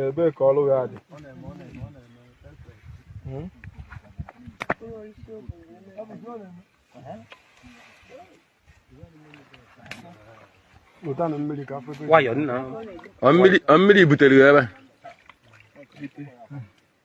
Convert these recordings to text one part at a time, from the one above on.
ebee ka ọrụ ya dị hmm? mmiri butere ya ebe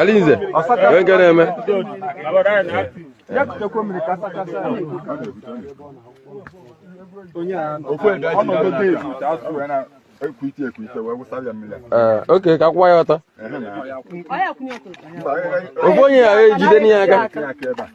Alinze, onye nke na-eme? Ee, oke ka a kwụwa ya ọtọ. Ofu onye jidenụ ya aka.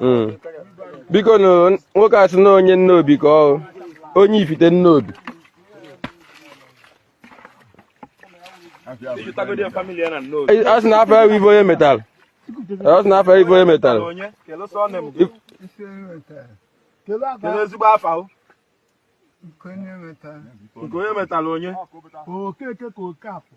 hmm. bikonụ nwoke a sị na onye Nnobi ka ọ onye Ifite Nnobi a sị na afa ya wụ Ifeonyemetalụ a sị na afa Ifeonyemetalụ kedu ezigbo afa o nke onye metara onye Okeke ka Okeafọ